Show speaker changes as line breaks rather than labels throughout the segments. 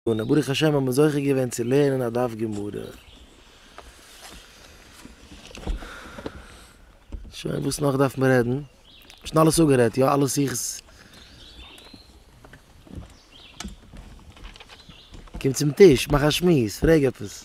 און ברוך השם האבן מיר זוכה געווען צו לערנען א דף גמרא. שוין, וואס נאך דארף מען רעדן? כ'האב שוין אלעס אפגערעדט, יא? אלע שיחות? קום צום טיש, מאך א שמועס, פרעג עפעס.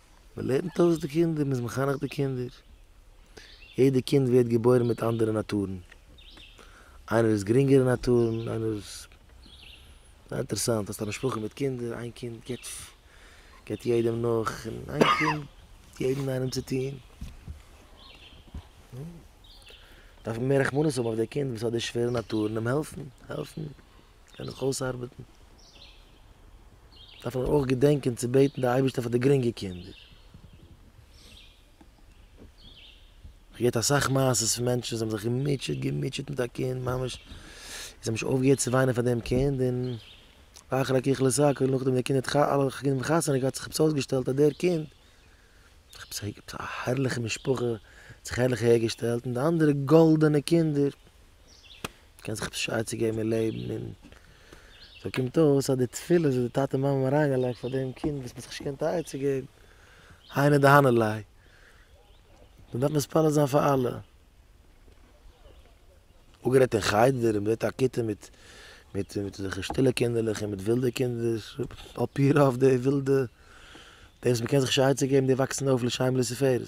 מען לערנט אויס די קינדער, מען איז מחנך די קינדער, יעדע קינד ווערט געבוירן מיט אנדערע נאטורן, איינער איז גרינגערע נאטורן, איינער איז, ס'איז אינטערעסאנט, האסט א משפחה מיט קינדער, איין קינד געבט געבט יעדעם נאך, און איין קינד גיבט יעדן איינעם צו טוהן, דארף מען מער רחמנות האבן אויף די קינד וואס האט די שווערע נאטורן, אים העלפן, העלפן. קען איך אויסארבעטן. דארף מען אויך געדענקען צו בעטן די אייבערשטער פאר די גרינגע קינדער. איך געהערט אסאך מעשות פון מענטשן זיי האבן זיך געמוטשעט געמוטשעט מיט א קינד ממש זיי האבן נישט אויפגעהערט צו וויינען פאר דעם קינד און ואחרי ככלות הכל און נאכדעם ווען די קינד האט אלע קינדער האבן חתונה געהאט האט זיך עפעס אויסגעשטעלט אז דער קינד עפעס א הערליכע משפחה האט זיך הערליך אהערגעשטעלט און די אנדערע גאלדענע קינדער. מ'קען זיך באשייד צו געבן אין לעבן און סאו קומט אויס אז די תפילות וואס די טאטע און מאמע האבן אריינגעלייגט פאר דעם קינד וואס מ'האט זיך נישט געקענט א עצה געבן, היינו דהנה ליה. מ'דארף מתפלל זיין פאר אלע. אפגערעדט אין חדר און בבית הכיתה מיט מיט אזעלכע שטילע קינדערלעך און מיט ווילדע קינדער, על פי רוב די ווילדע, די וואס מ'קען זיך נישט א עצה געבן די וואקסן אויף לשם ולתפארת.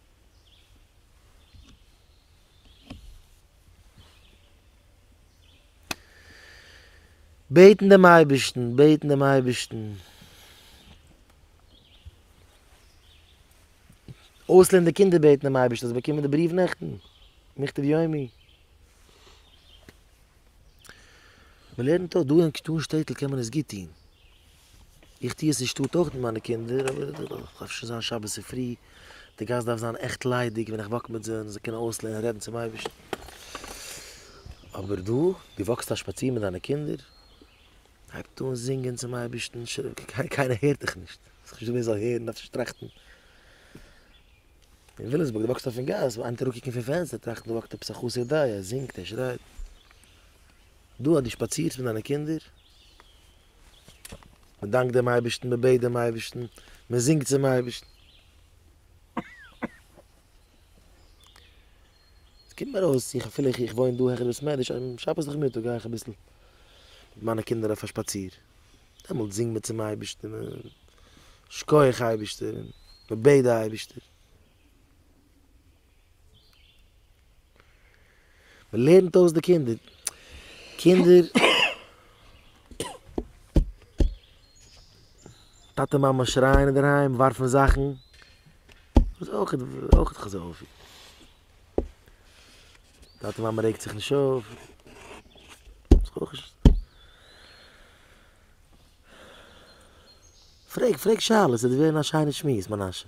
בעטן דעם אייבערשטן, בעטן דעם אייבערשטן. אויסלערנען די קינדער בעטן דעם אייבערשטן זיי באקומען די בריוו נעכטן, מכתב יומי. מען לערנט אויס, דא אין שטעטל קען מען עס גוט טון. איך טוה עס אין שטאט אויך מיט מיינע קינדער, אבער איך דארף אפשר זיין שבת צופרי, די גאס דארף זיין עכט ליידיג ווען איך וואק מיט זיי, זיי קענען אויסלערנען רעדן צום אייבערשטן. אבער דא, דו וואקסט א שפאציר מיט דיינע קינדער, הייבט אן זינגען צום אייבערשטן, קיינער הערט דיך נישט, עס איז נישטא ווער זאל הערן, דארפסט נישט טראכטן. אין וויליאמסבורג, דו וואקסט אויפן גאס, וועט איינער אראפקוקן פון פענסטער טראכטן דא וואקט עפעס א חסר דת, ער זינגט, ער שרייט. דא אז דו שפאצירסט מיט דיינע קינדער, מען דאנקט דעם אייבערשטן, מען בעט דעם אייבערשטן, מען זינגט צום אייבערשטן. עס קומט מיר אויס, איך אפילו איך וואוין דא העכער בית מדרש, שבת נאכמיטאג גיי איך אביסל מיט מיינע קינדער אויף א שפאציר, דעמאלט זינגט מען צום אייבערשטן, מען שקויעך אייבערשטער, מען בעט די אייבערשטער. מען לערנט אויס די קינדער, קינדער, טאטע מאמע שרייען אינדערהיים, ווארפן זאכן, דאס אויך איז אויך כזה אופי, טאטע מאמע רעגט זיך נישט אויף, דאס אויך נישט, פרעג פרעג שאלות עס וועט ווערן א שיינע שמועס מנשה.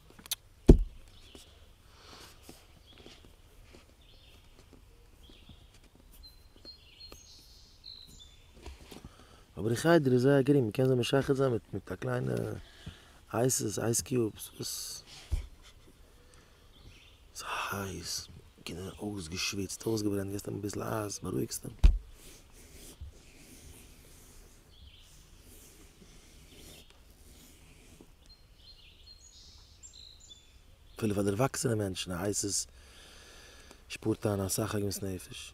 אבער די חדר איז זייער גרינג, מ'קען זיי משחד זיין מיט מיט א קליינע אייסעס, אייס קיובס, וואס ס'איז הייס, קינדער זענען אויסגעשוויצט, אויסגעברענט, געסט אים אביסל אייז, בארואיגסט אים. אפילו פאר דערוואקסענע מענטשן הייסט עס שפארט איין אסאך עגמת נפש.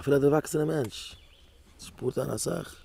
אפילו א דערוואקסענע מענטש שפארט איין אסאך.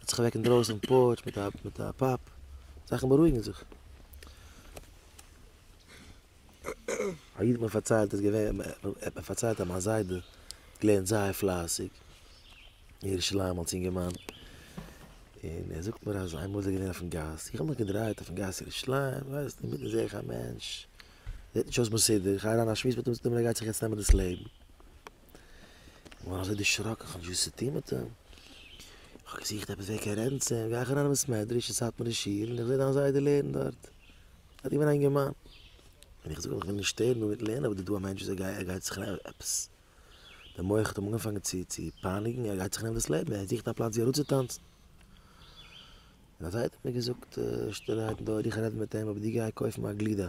ער האט זיך אוועק אינדרויסן אויפן פארטש מיט א מיט א פאפ, זאכן בארואיגן זיך. א איד האט מיר פארציילט איז געווען ער האט מיר פארציילט אז מיין זיידע האט געלערנט זייער פלייסיג אין ירושלים אלס אינגערמאן, און ער זאגט מיר אז איינמאל איז ער געווען אויפן גאס, איך האב מיך געדרייט אויפן גאס ירושלים, ווייסט אינמיטן זעה איך א מענטש זעט נישט אויס מסודר, איך גיי אריין א שמועס מיט אים זאגט ער מיר ער גייט זיך יעצט נעמען דאס לעבן. געווארן אזוי דערשראקן, כ'האב נישט געוואוסט וואס צו טון מיט אים, כ'האב געזוכט עפעס ווער קען רעדן צו אים, גיי איך אריין אין בית מדרש אין סאטמארע שול און איך זע דיין זיידע לערנט דארט, ער האט געווען א אינגערמאן, און איך זאג אים איך וויל נישט שטערן דא מיטן לערנען אבער דא איז דא א מענטש וואס ער גייט זיך עפעס, די מח האט אים אנגעפאנגען צו צו פייניגן, ער גייט זיך נעמען דאס לעבן, ער זוכט א פלאץ ווי אראפצוטאנצן, און אזוי האט ער מיר געזאגט שטילערהייט אין די אויער, איך רעד מיט אים אבער דו גיי קויף מיר א גלידה,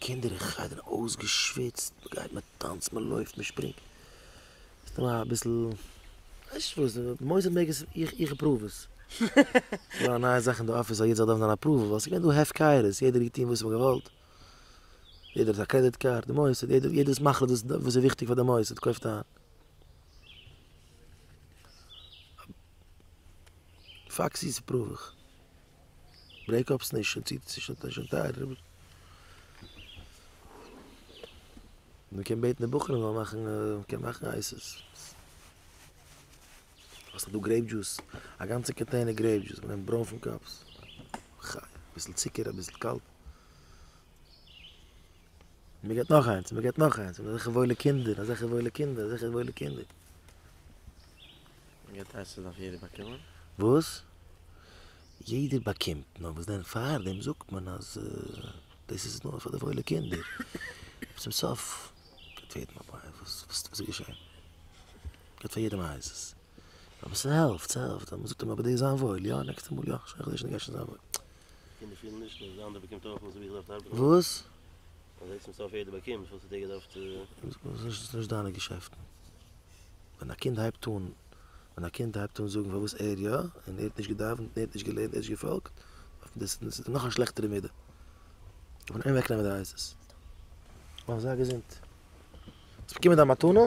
קינדער אין חדר אויסגעשוויצט, מען גייט מען טאנצט מען לויפט מען שפרינגט, סתם אביסל, ווייסט נישט וואס, מוזיק מעג עס, איך אפראוו עס. ס'דא א נייע זאך אין די אפיס אז יעדער זאל דארפן זיין אפראווד, ווייל ס'געווען דא הפקרות, יעדער האט געטון וואס מען האט געוואלט, יעדער האט א קרעדיט קארד, די מוסד, יעדער איז מחליט וואס איז וויכטיג פאר די מוסד, קויפט איין. פאקסיס אפראוו איך. ברעיק אפס נישט שוין טייער. מען קען בעטן די בחורים זאלן מאכן מען קען מאכן אייסעס. וואס איז דא גרעיפ דזשוס א גאנצע קאנטעינער גרעיפ דזשוס מען נעמט ברוינפן קאפס. אביסל צוקער אביסל קאלט. מען געט נאך איינס, מען געט נאך איינס, און אזעלכע וואוילע קינדער, אזעלכע וואוילע קינדער, אזעלכע וואוילע קינדער.
מען געט עסן דארף יעדער באקומען. וואס?
יעדער באקומט, נאר וואס דען פארדעם זאגט מען אז דאס איז נאר פאר די וואוילע קינדער. צום סוף געט יעדעם א ביי, וואס איז געשען? געט פאר יעדעם א הייזעס. אבער ס'העלפט, ס'העלפט, אז מ'זאגט אים אבער דאס זיין וואויל, יא, נעקסטע מאל יא, כ'שכח דאס נישט גיי שוין זיין וואויל. קינדער פילן נישט אז די אנדערע באקומט
אויך וואס ווי
כ'דארף
ארבעטן. וואס? אז עצם סוף יעדער באקומט וואס האט ער געדארפט. ס'איז נישט דיינע
געשעפטן. ווען א קינד הייבט אן, ווען א קינד הייבט אן זאגן פארוואס ער יא, און ער האט נישט געדאווענט, און ער האט נישט געלערנט, ער האט נישט געפאלגט, דאס איז נאך א שלעכטערע מידה. דארף מען אים אוועקנעמען די עצות. מאך זיי געזונט. האסט באקומען דיין מתנה?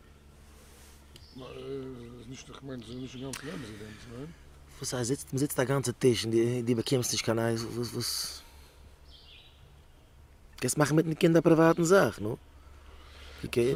וואס הייסט זיצט?
מ'זיצט א גאנצע טיש און דו באקומסט נישט קיין אייז? וואס וואס? קענסט מאכן מיטן קינד א פריוואטן זאך, נו.
אקעי.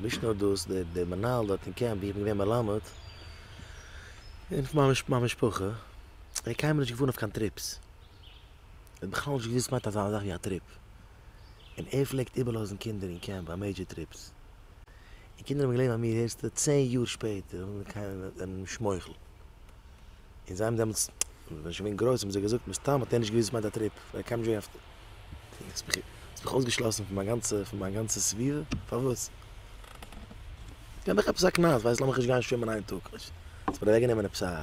נישט נאר דאס, דער מנהל דארט אין קעמפ ווי איך בין געווען מלמד, און פון מיין משפחה, ער האט קיינמאל נישט געפארן אויף קיין טריפס. ער האט בכלל נישט געוואוסט וואס מיינט אזא זאך ווי א טריפ. און ער פלעגט איבערלאזן קינדער אין קעמפ ביי מעידזשער טריפס, און קינדער האבן געלערנט ביי מיר הערסטו צען יאר שפעטער אן קיין מוחל, און זיי האבן דעמאלטס ווען איך בין גרויס האבן זיי געזאגט מסתם האט ער נישט געוואוסט וואס מיינט א טריפ ווייל ער קען נישט ווערן פון האסט מיך אויסגעשלאסן פון מיין גאנצע פון מיין גאנצע סביבה פארוואס? געב מיך עפעס א קנס ווייסט לאמיך נישט גיין שווימען איין טאג, האסט מיר אוועקגענומען עפעס א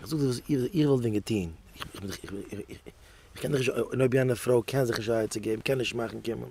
איך זאג דיר וואס איך וואלט ווען געטוהן, איך קען נישט, און אויב יענע פרוי קען זיך נישט א עצה געבן, קען נישט מאכן קומען.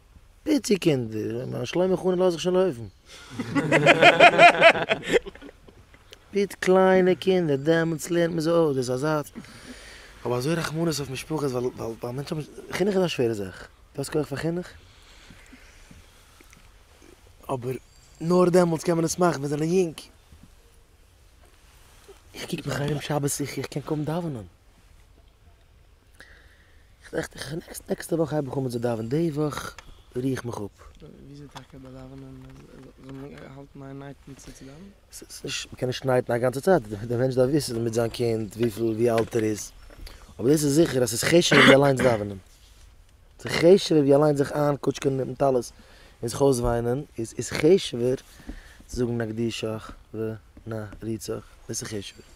פיצי קינדער, מיין שלמה חנן לאזט זיך שוין לויפן. פיט קליינע קינדער, דעמאלטס לערנט מען זיי אויס, דאס איז א זאץ. כ'האב אזוי רחמנות אויף משפחות ווייל ווייל ווייל מענטשן האבן, חינוך איז א שווערע זאך, דו האסט כח פאר חינוך? אבער נאר דעמאלטס קען מען עס מאכן, מיר זענען יונג. איך קוק מיך ארום שבת איך קען קוים דאווענען. נעקסטע וואך הייב איך אן מיט זיי דאווענען די וואך ריר איך מיך אפ. וויאזוי טאקע ביי
דאווענען זאל מען האלטן א נייטען צו צו דאווענען? ס'איז נישט מ'קען נישט
נייטען א גאנצע צייט די מענטש דארף וויסען מיט זיין קינד וויפיל ווי אלט ער איז אבער דאס איז זיכער אז ס'איז חשוב ווי אליינס דאווענען. זיך חשוב'ער ווי אליין זיך איינקוטשקען מיטן טלית און זיך אויסוויינען איז איז
חשוב'ער
צו זאגן נקדישך ונריצך, דאס איז חשוב'ער.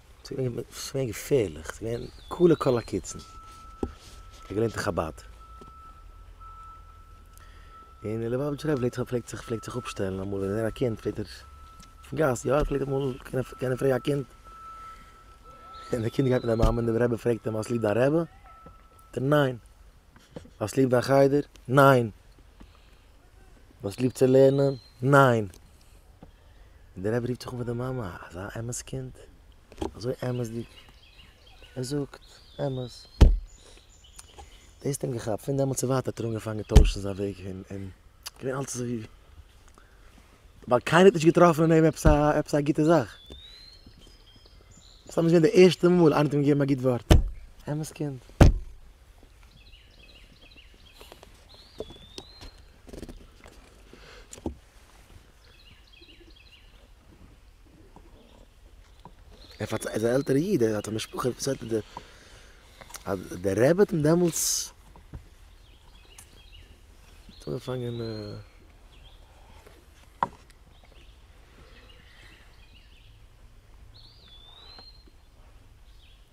ס'איז געווען געפערליך, ס'איז געווען כלה כל הקיצין, כ'האב געלערנט אין חבד, און דער ליובאוויטשער רבי פלעגט פלעגט זיך פלעגט זיך אפשטעלן אמאל ווען ער א קינד פלעגט ער אויפן גאס יא ער פלעגט אמאל קענען פרעגן א קינד, און די קינד גייט מיט די מאמע און דער רבי פרעגט אים האסט ליב דיין רבי? ענטפערט ער ניין, האסט ליב דיין חדר? ניין. האסט ליב צו לערנען? ניין! און דער רבי רופט זיך אן פאר די מאמע, אזא אמת קינד, אזוי אמת'דיג, ער זאגט אמת. דאס האט אים געכאפט, פון דעמאלטס און ווייטער האט ער אנגעפאנגען טוישן זיין וועג און און געווען אלץ אזוי ווי, ווייל קיינער האט נישט געטראפן אין אים עפעס א עפעס א גוטע זאך. סתם איז געווען די ערשטע מאל איינער האט אים געגעבן א גוט ווארט, אמת קינד. ער פארציילט אז א עלטערע איד ער האט א משפחה ער פארציילט אז די אז די רבי האט אים דעמאלטס האט אנגעפאנגען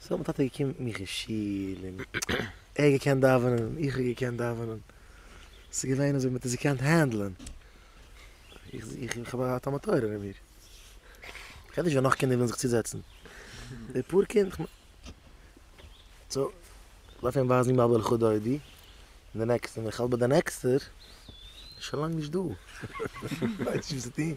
סאו מיין טאטע איז געקומען מיך אין שול און ער האט געקענט דאווענען און איך האב געקענט דאווענען, ס'איז געווען אזוי מען האט עס געקענט הענדלען, איך האב געהאט א מטורף אין מיר, כ'רעד נישט ווען נאך קינדער ווילן זיך צוזעצן, די פאר קינד, סאו לויף אים ווייזן ימי בלכו דודי און די נעקסטע, און איך האלט ביי די נעקסטע איז שוין לאנג נישט דא, איך ווייס נישט וואס צו טון.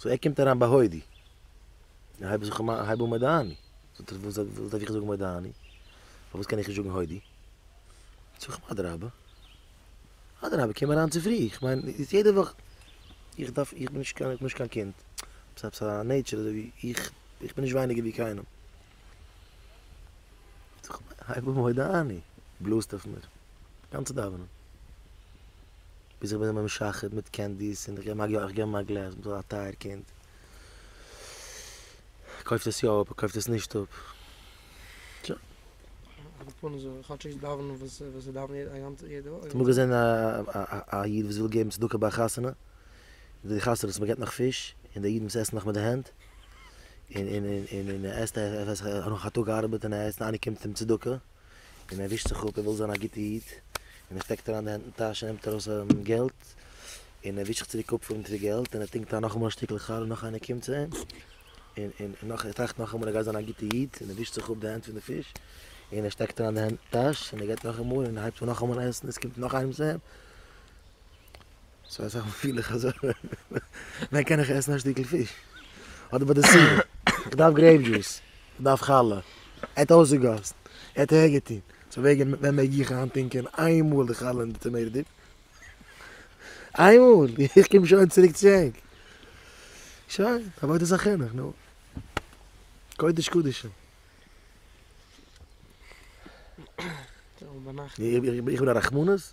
סאו ער קומט אריין בהודי, איך הייב זיך אן, הייב אן מודה אני, זאגט ער וואס דארף איך זאגן מודה אני, פארוואס קען איך נישט זאגן הודי, זאג איך אים אדרבה, אדרבה קום אריין צופרי, איך מיין איז יעדע וואך, איך דארף, איך בין נישט קיין קינד, ס'איז א נעטשער אזוי ווי איך, איך בין נישט ווייניגער ווי קיינעם. הייב אן מודה אני, בלאזט אויף מיר גאנצע דאווענען, ביז איך בין אים משחד מיט קענדיס און איך געב אים א גלעז, מ'איז דאך א טייער קינד, ער קויפט עס יא אפ, ער קויפט עס נישט אפ, שוין.
האסט אמאל געזען
א א איד וואס וויל געבן צדקה ביי א חתונה, די חתונות מ'געבט נאך פיש, און די אידן וואס עסן נאך מיט די הענט, און און און און און ער עסט ער ער עס ער נאך א טאג געארבעט און ער עסט איינער קומט אים צדקה און ער ווישט זיך אפ ער וויל זיין א גוטע איד און ער שטעקט אריין די הענט אין טאש און נעמט ארויס געלט און ער ווישט זיך צוריק אפ פון די געלט און ער טונקט איין נאכאמאל א שטיקל חלה נאך איינער קומט צו אים און און און נאך ער טראכט נאכאמאל ער גייט זיין א גוטע איד און ער ווישט זיך אפ די הענט פון די פיש און ער שטעקט אריין די הענט אין טאש און ער גייט נאכאמאל און ער הייבט אן נאכאמאל עסן עס קומט נאך איינעם צו אים. סאו אזא מאל פיל איך אזוי, ווען קען איך עסן א שטיקל פיש? אדער ביי די סיום, איך דארף גרעיפ דזשוס, איך דארף חלה, ער האט אויסגעגאסן, ער האט אהער געטון, סאו וועגן ווען מעג איך היינט טינקען איין מאל די חלה אין די טעמעיטא דיפ? איין מאל! איך קום שוין צוריק צו ענק! שוין, עבודת החינוך, נו. קודש קדשים. איך בין א רחמנות?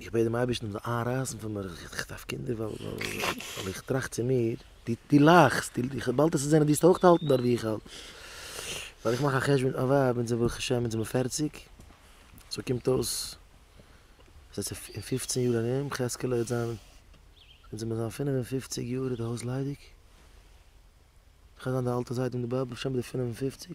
איך בעט דעם אייבערשטן זאל איינרייסן פון מיר, איך דארף קינדער ווייל איך טראכט צו מיר, דו לאכסט, באלד וועסטו זען אז דו אויך האלטן דארט ווי איך האלט, ווייל איך מאך א חשבון, א ווייב אונז ברוך השם אונז זעמיר פערציג, סאו קומט אויס אז עס איז אין פופצן יאר ארום, חזקאלע וועט זיין, אונז זעמיר זיין פינף און פופציג יאר איז די הויז ליידיג, איך וועל זיין די אלטע זיידע און די באבע, בשם די פינף און פופציג,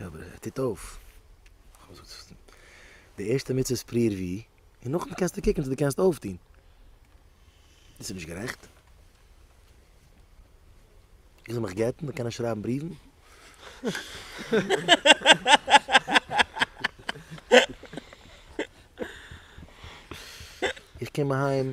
יא אבער ער טוט אויף. די ערשטע מצוה איז פריער ווי, און נאכדעם קענסטו קוקן צו דו קענסט אויפטון. דאס איז נישט גערעכט. איך זאל מיך גט'ן דאן קען איך שרייבן בריוון. איך קום אהיים.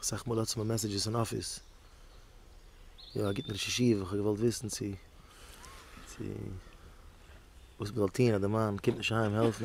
אסאך מאל האטס מיר מעסעדזשעס אין אפיס. יא א גוטן ראש ישיבה, כ'האב געוואלט וויסן צו צו וואס מ'זאל טוהן אז די מאן קומט נישט אהיים העלפן.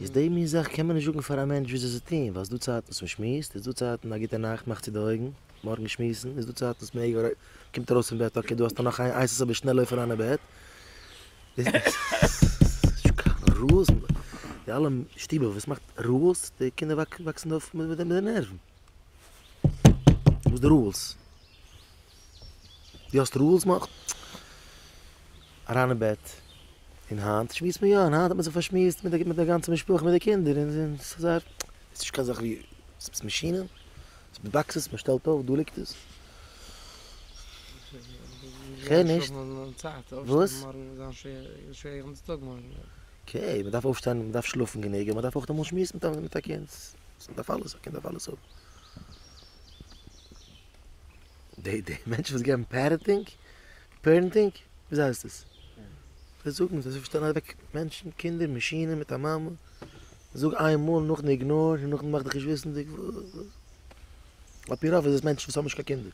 איז די מין זאך קען
מען נישט זאגן פאר א מענטש וויאזוי צו טון, ווייל עס איז דא צייטן וואס מען שמועסט, איז דא צייטן א גוטע נאכט מאך צו די אויגן, מארגן שמועסן, איז דא צייטן וואס מען קומט ארויס פון בעט אקעי דא האסטו נאך איין אייס אזוי שנעל לויף אריין אין בעט, די אלע שטובער וואס מאכט רעלס, די קינדער וואקסן אויף מיט די נערוון. וואס די רולס? דו האסט רולס מאך אריין אין בעט און היינט שמועסט מען יא און היינט האט מען זיך פארשמועסט מיט די מיט די גאנצע משפחה מיט די קינדער און און ס'איז זייער ס'איז נישט קיין זאך ווי ס'איז מאשינען ס'איז מיט באקסעס מ'שטעלט אויף דא ליגט עס כ'הער נישט וואס?
אקעי מ'דארף
אויפשטיין מ'דארף שלאפן גענוג און מ'דארף אויך אמאל שמועסן מיט א מיט א קינד אז מען דארף אלעס, א קינד דארף אלעס האבן. די די מענטשן וואס געבן פערעטינג, פערענטינג, וויאזוי הייסט עס? זיי זאגן אז זיי שטעלן אוועק מענטשן, קינדער, מאשינען מיט א מאמע, זאג איין מאל, נאכדעם איגנאר, און נאכדעם מאך דיך נישט וויסנדיג, על פי רוב איז עס מענטשן וואס האבן נישט קיין קינדער.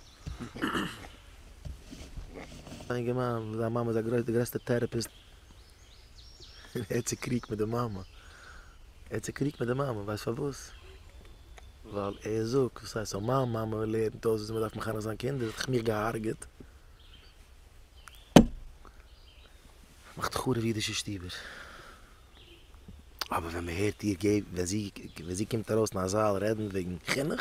א אינגערמאן, זיין מאמע איז א גרויסע, די גרעסטע טעראפיסט. ער האט צוקריגט מיט די מאמע, ער האט צוקריגט מיט די מאמע, ווייסט פארוואס? ווייל ער זאגט, וואס הייסט אויב מיין מאמע לערנט אויס וויאזוי מ'דארף מחנך זיין קינדער וואלט איך מיך געהארגעט. מאכט חרוב אידישע שטובער. אבער ווען מ'הערט איר געבן, ווען זי קומט ארויס אין א זאל רעדן וועגן חינוך,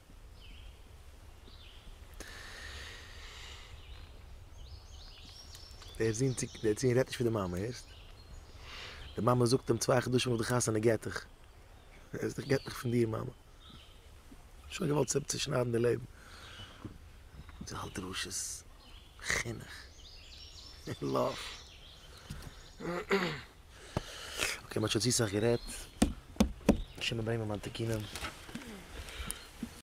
דער זון צו, דער זון רעדט נישט מיט די מאמע, הערסט? די מאמע זאגט אים צוויי חדשים נאך די חתונה גט איך. הערסט? איך גט מיך פון דיר מאמע. שוין געוואלט צו צושניידן די לעבן. זי האלט דרשות. חינוך. לאוו. אקעי מ'האט שוין צו סאך גערעדט. השם יבער מיר מיין תיקונים.